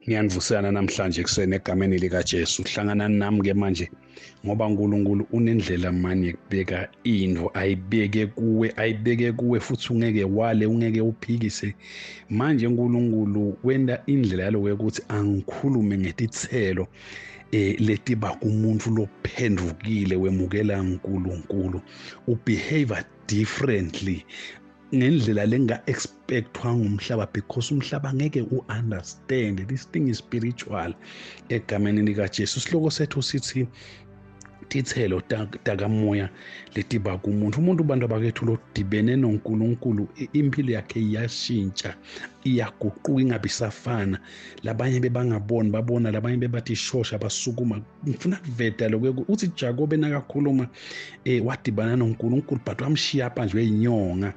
ngiyanivuselana namhlanje ekuseni egameni likaJesu hlanganani nami ke manje ngoba uNkulunkulu unendlela mani yekubeka into ayibeke kuwe ayibeke kuwe futhi ungeke wale ungeke uphikise manje uNkulunkulu wenda indlela yalo ukuthi angikhulume ngetithelo eh letiba kumuntu lophendukile wemukela uNkulunkulu ubehave differently ngendlela lenga bekuthiwa ngumhlaba because umhlaba ngeke u-understand this thing is spiritual egameni likajesu isihloko sethu sithi tithelo takamoya letiba kumuntu umuntu ubantu abakethu lodibene nonkulunkulu impilo yakhe iyashintsha iyaguquka ingabe isafana labanye bebangaboni babona labanye bebathi ishosha basukuma ngifuna kuveda lokho uthi jakobe nakakhuluma um wadibana nonkulunkulu but wamshiya pha nje weyinyonga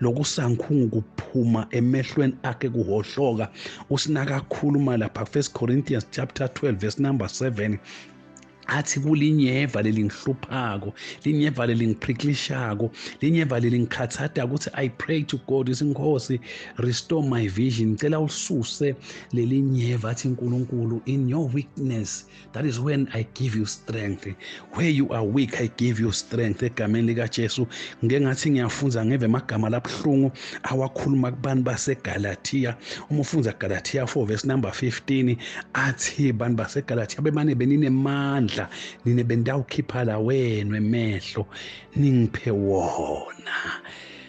lokusankhungu kuphuma emehlweni akhe kuhohloka usinaka akhuluma lapha first corinthians chapter 12 verse number 7 athi kulinyeva lelingihluphako linyeva lelingiphrikilishako linyeva lelingikhathada ukuthi i pray to god ithi nkosi restore my vision ngicela ulisuse lelinyeva athi nkulunkulu in your weakness that is when i give you strength where you are weak i give you strength egameni likajesu ngike ngathi ngiyafunza ngeve amagama labuhlungu awakhuluma kubantu basegalatiya uma ufunza galatiya 4 verse number 15 athi bantu basegalatiya bemane beninemandla nine bendawukhipha la wenu emehlo ningiphe wona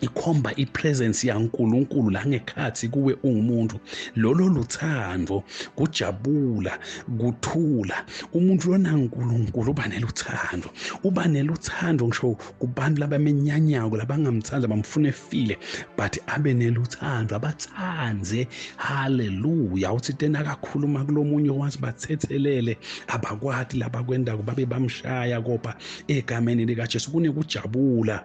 ikhomba ipresence yaNkuluNkulu la ngekhathi kuwe ungumuntu lolo luthando kujabula kuthula umuntu lona uNkulunkulu uba neluthando uba neluthando ngisho kubantu labamenyanyako labangamthanda bamfuna efile but abe neluthando abathande haleluya uthi tena kakhuluma kulomunye wazi bathethelele abakwati labakwendako babe bamshaya kopa egameni likaJesu kunekujabula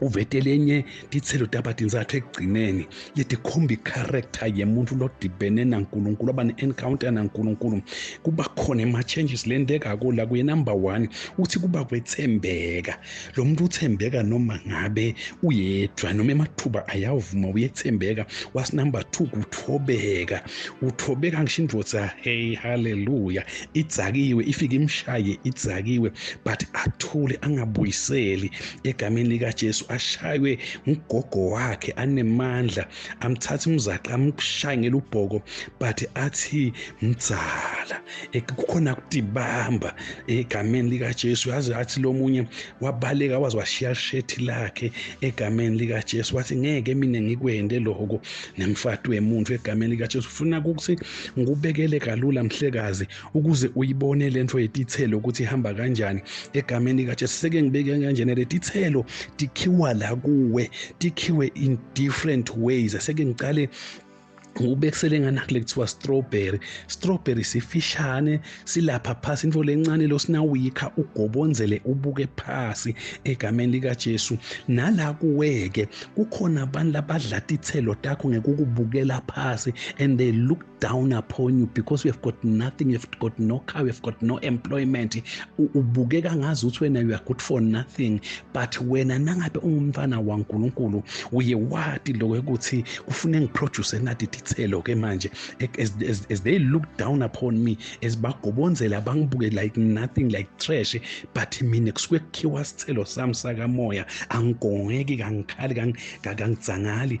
uvete lenye titselo taba tintsatfu ekugcineni letikhomba ikharektha yemuntfu lodibene nankulunkulu aba ne-encounter nankulunkulu kuba khona ema-changes lentekako la kuye number one uthi kuba kwethembeka lo muntu uthembeka noma ngabe uyedwa noma emathuba ayavuma uyethembeka was number two kuthobeka uthobeka ngisho indvodza hey haleluya idzakiwe ifike imshaye idzakiwe but athule angabuyiseli egameni likaJesu ashaywe ngugogo wakhe anemandla amthatha umzaqa amshaye ngelubhoko but athi mdzala kukhona kudibamba egameni likaJesu yazi athi lomunye wabaleka waze washiya shethi lakhe egameni likaJesu wathi ngeke mina ngikwende lokho nemfati wemuntu egameni likaJesu ufuna ukuthi ngikubekele kalula mhlekazi ukuze uyibone lento yetithelo ukuthi ihamba kanjani egameni kaJesu seke ngibeke kanjena letithelo tikhiwa la kuwe tikhiwe in different ways seke ngicale ubekisele ngani kule kuthiwa strawberry strawberry sifishane silapha phasi into lencane losinawuyikha ugobonzele ubuke phasi egameni likaJesu nala kuweke kukhona abantu labadla tithelo takho ngekukubukela phasi and they look down upon you because we have got nothing we have got no car we have got no employment ubukeka ngazi ukuthi wena you are good for nothing but wena nangabe ungumfana waNkulunkulu uye wati lokho ukuthi kufune ngiproduce nathi dithelo ke manje as, as, as they look down upon me as bagobonzela bangibuke like nothing like trash but mina kusuke kukhiwa sithelo sami sakamoya angigongeki kangikhali kangidzangali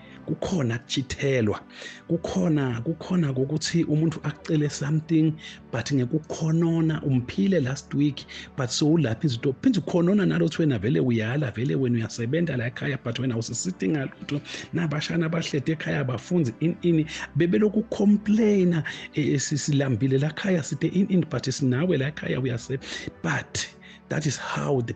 kukhona kuchithelwa kukhona kukhona kokuthi umuntu akucele something but ngekukhonona umphile last week but sowulapha izinto phinde ukhonona nalothi wena vele uyala vele wena uyasebenza la ekhaya but wena usisithi ngalutho nabashana abahlede ekhaya abafunzi in in bebelokhu complaina eh, eh, sisilambile la khaya side in in but sinawe la ekhaya uyase but that is how the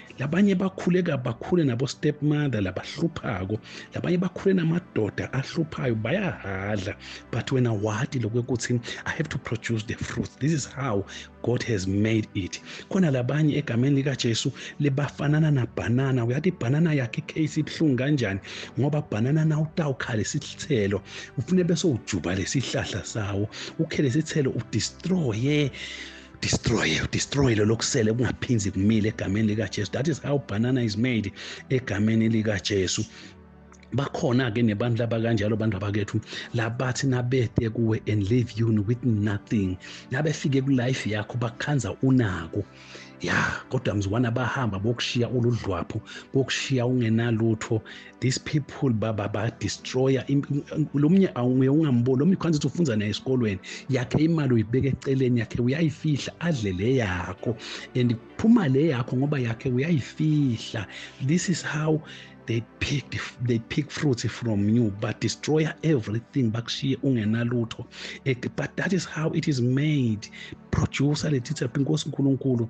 labanye bakhule bakhule nabo stepmother labahluphako labanye bakhule namadoda ahluphayo bayahadla but wena wati lokwekuthi i have to produce the fruit this is how god has made it khona labanye egameni likajesu libafanana nabhanana uyathi ibhanana yakhe icase ibuhlungu kanjani ngoba bhanana nawutawukhale isithelo ufune bese ujuba lesihlahla sawo ukhele isithelo udestroye destroy destroy lelo kusele kungaphinzi kumile egameni likaJesu that is how banana is made egameni likaJesu bakhona-ke nebantu laba kanjalo bantu abakethu labathi nabete kuwe and leave you with nothing nabefike kulife yakho bakhanza unako ya kodwa mzukwana bahamba bokushiya uludlwapho bokushiya ungenalutho these people baba badestroya lo mnye awunguye ungamboni lo mnye kwanza ukuthi ufunza naye esikolweni yakhe imali uyibeka eceleni yakhe uyayifihla adle le yakho and kuphuma le yakho ngoba yakhe uyayifihla this is how they pick they pick fruits from you but destroy everything bakushiye ungenalutho but that is how it is made producer lethitha inkosi uNkulunkulu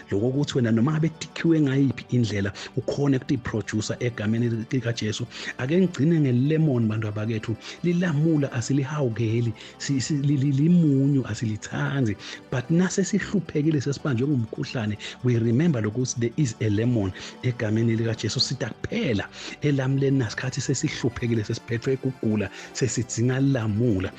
loko ukuthi wena noma ngabe dikhiwe ngayiphi indlela ukhona ukuthi iproducer egameni likaJesu ake ngigcine ngelemon bantu abakethu lilamula asilihawukeli limunyu asilithandi but nase sihluphekile sesibanjwe ngumkhuhlane we remember lokuthi there is a lemon egameni likaJesu sitha kuphela elamuleni nasikhathi sesihluphekile sesiphethwe kugula sesidzinga lamula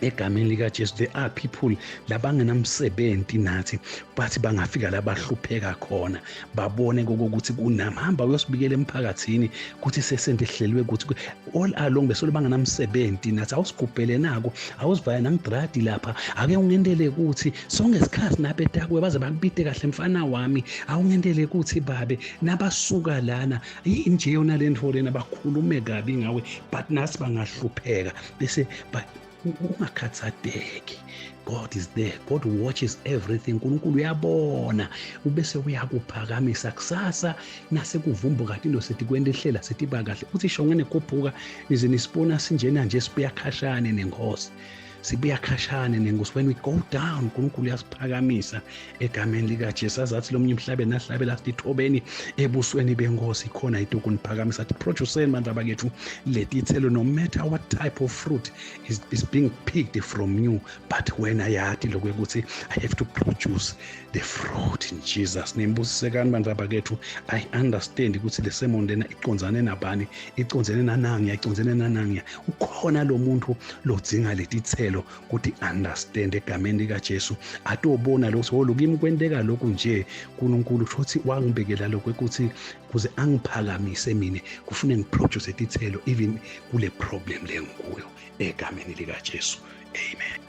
egameni likaJesu there are people labangenamsebenzi nathi bathi bangafika labahlupheka khona babone kokuthi kunami hamba uyosibikela emphakathini ukuthi sesente ehlelwe ukuthi all along besolo bangenamsebenzi nathi awusigubhele nako awusivaya nangidradi lapha ake ungendele ukuthi sonke isikhathi nabetakwe baze bakubide kahle mfana wami awungendele ukuthi babe nabasuka lana inje yona le nto lena bakhulume kabi ngawe but nasi bangahlupheka they say but ungakhathazeki god is there god watches everything unkulunkulu uyabona ubese uyakuphakamisa kusasa nasekuvumbu kade into sithi kwenta ihlela sithi iba kahle uthi shonge nekhuphuka nize nisibona sinjena nje sibuya khashane nenkosi sibuya khashane nenkosi when we go down unkulunkulu uyasiphakamisa egameni likajesu azathi lomunye emhlabeni ahlabela athi ithobeni ebusweni benkosi khona ituku niphakamisa athi produceni bantu abakethu letithelo no matter what type of fruit is, is being picked from you but wena yathi lokhu ukuthi i have to produce the fruit in jesus name busisekani bantu abakethu i understand ukuthi le sermon lena iconzane nabani iconzene nanangiya iconzene nanangiya ukhona lo muntu lodzinga letithelo ukuthi understand egameni likaJesu atobona lokho oh lokimi kwenteka lokhu nje uNkulunkulu kusho ukuthi wangibekela lokho ukuthi kuze angiphakamise mina kufune ngiproduce izithelo even kule problem lengikuyo egameni likaJesu amen